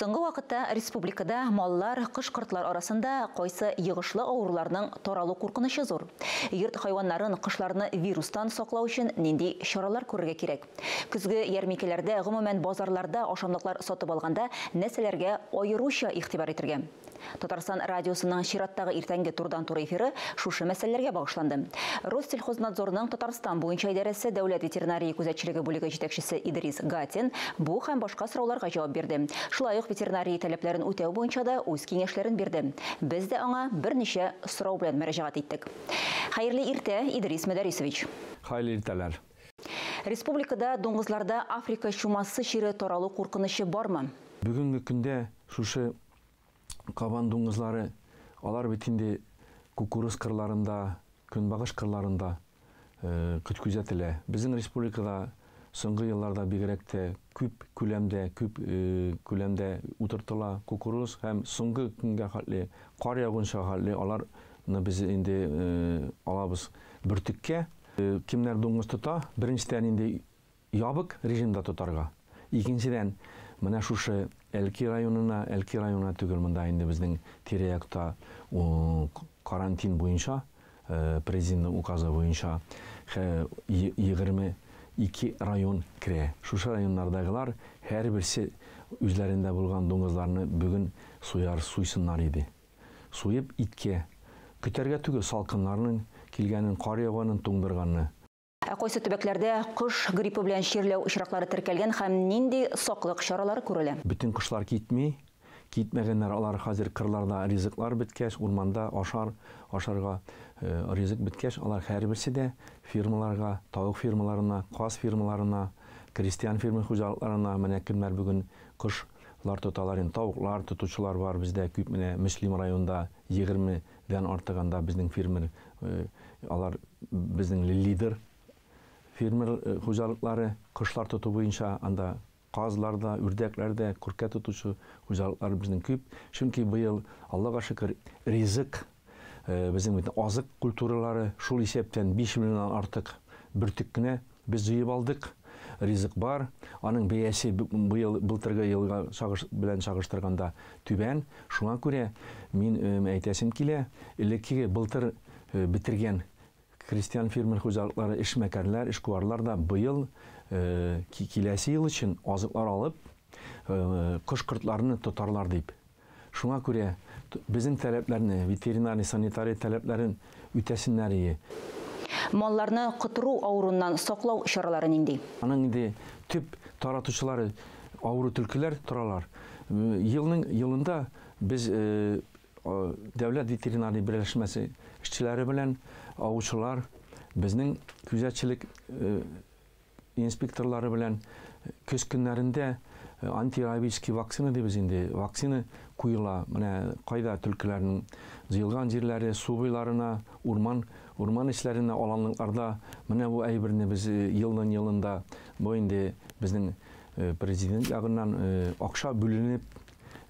Соңгы вакытта республикада маллар, кош-кортлар арасында кайсы йогышлы авыруларның таралу куркынычы зур? Йорт хайваннарын, кошларны вирустан саклау өчен нинди чаралар күрергә кирәк? Көзге ярминкәләрдә, гомумән, базарларда ашамлыклар сатып алганда нәрсәләргә аеруча игътибар итәргә? Татарстан радиосының чираттагы иртәнге турыдан-туры эфиры шушы мәсьәләләргә багышланды. Россельхознадзорның Татарстан буенча идарәсе дәүләт ветеринария күзәтчелеге бүлеге җитәкчесе Идрис Гатин бу һәм башка сорауларга җавап бирде. Шулай ук ветеринария таләпләрен үтәү буенча да үз киңәшләрен бирде. Без дә аңа берничә сорау белән мөрәҗәгать иттек. Хәерле иртә, Идрис Мөдәрисович! Хәерле иртәләр! Республикада дуңгызларда Африка чумасы чире таралу куркынычы бармы? Бүгенге көндә шушы кабан дуңгызлары, алар бит инде кукуруз кырларында, көнбагыш кырларында күт күзәтелә. Безнең республикада соңгы елларда бигрәк тә күп күләмдә, күп күләмдә утыртыла кукуруз һәм соңгы көнгә хәтле, кар яугынча хәтле алар ны без инде алабыз бөртеккә. Кемнәр дуңгыз тота, беренчедән инде ябык режимда тотарга. Икенчедән, менә шушы Әлки районына, Әлки районына түгел, монда инде безнең тирә-якта карантин буенча, Президентның указы буенча, 22 район керә. Шушы районнардагылар һәрберсе үзләрендә булган дуңгызларны бүген суяр, суйсыннар иде. суеп иткә, көтәргә түгел салкыннарның килгәнен, кар яуганын, туңдырганны. Ә кайсы төбәкләрдә кош гриппы белән чирләү очраклары теркәлгән һәм нинди саклык чаралары күрелә? Бөтен кошлар китми, китмәгәннәр алар хәзер кырларда ризыклар беткәч, урманда ашар, ашарга ризык беткәч, алар һәрберсе дә фермаларга, тавык фермаларына, каз фермаларына, крестьян фермер хуҗалыкларына, менә кемнәр бүген кош Лар тоталар инде, тавыклар тотучылар бар бездә күп менә Мөслим районында егерме дән артык анда безнең фермер алар безнең лидер фермер хуҗалыклары кошлар тоту буенча анда казлар да, үрдәкләр дә, күркә тотучы хуҗалыклар безнең күп, чөнки быел, Аллага шөкер, ризык Безнең бит азык культуралары, шул исәптән 5 миллионнан артык бөртек кенә без җыеп алдык. Ризык бар. Аның бәясе быел былтыргы елга чагыш белән чагыштырганда түбән. Шуңа күрә мин әйтәсем килә, элеккеге былтыр бетергән крестьян-фермер хуҗалыклары, эшмәкәрләр, эшкуарлар да быел киләсе ел өчен азыклар алып, кош-кортларны тотарлар дип Шуңа күрә безнең таләпләрне, ветеринарий-санитария таләпләрен үтәсеннәрие. Малларны котыру авыруыннан саклау чаралары нинди? Аның инде төп таратучылары авыру төлкеләр торалар. Елның елында без дәүләт ветеринарий берләшмәсе эшчеләре белән, авучылар, безнең күзәтчелек инспекторлары белән көз көннәрендә антирабический вакцина дибез инде, вакцина куела. Менә кайда түлкеләрнең җыелган җирләре, су буйларына, урман, урман эчләренә, аланлыкларда менә бу әйберне без елдан елында бу инде безнең президент ягыннан акча бүленеп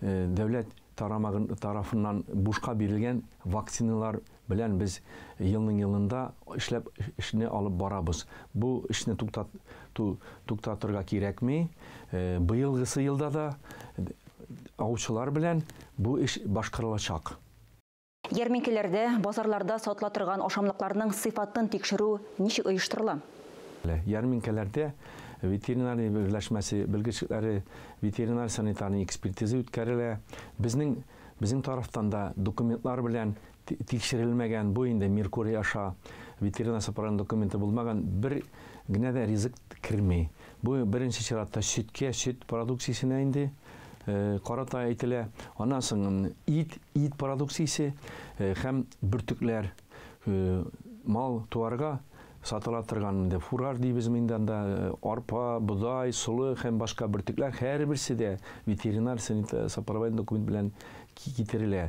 дәүләт тарамагын тарафыннан бушка бирелгән вакциналар Белән без елның елында эшләп эшне алып барабыз. Бу эшне туктат ту туктатырга кирәкми. Быелгысы елда да аучылар белән бу эш башкарылачак. Ярминкәләрдә, базарларда сатыла торган ашамлыкларның сыйфатын тикшерү ничек оештырыла? Ярминкәләрдә ветеринария берләшмәсе белгечләре ветеринар-санитарный экспертиза үткәрелә. Безнең Безнең тарафтан да документлар белән тикшерелмәгән, бу инде Меркурий аша ветеринар сапарының документы булмаган бер генә дә ризык керми. Бу беренче чиратта сөткә, сөт продукциясенә инде э, карата әйтелә. Аннан соң ит, ит продукциясе э, һәм бөртекләр. мал туарга сатыла торган инде фураж дибез инде анда арпа, бодай, солы һәм башка бөртекләр һәрберсе дә ветеринар сопроводительный документ белән китерелә.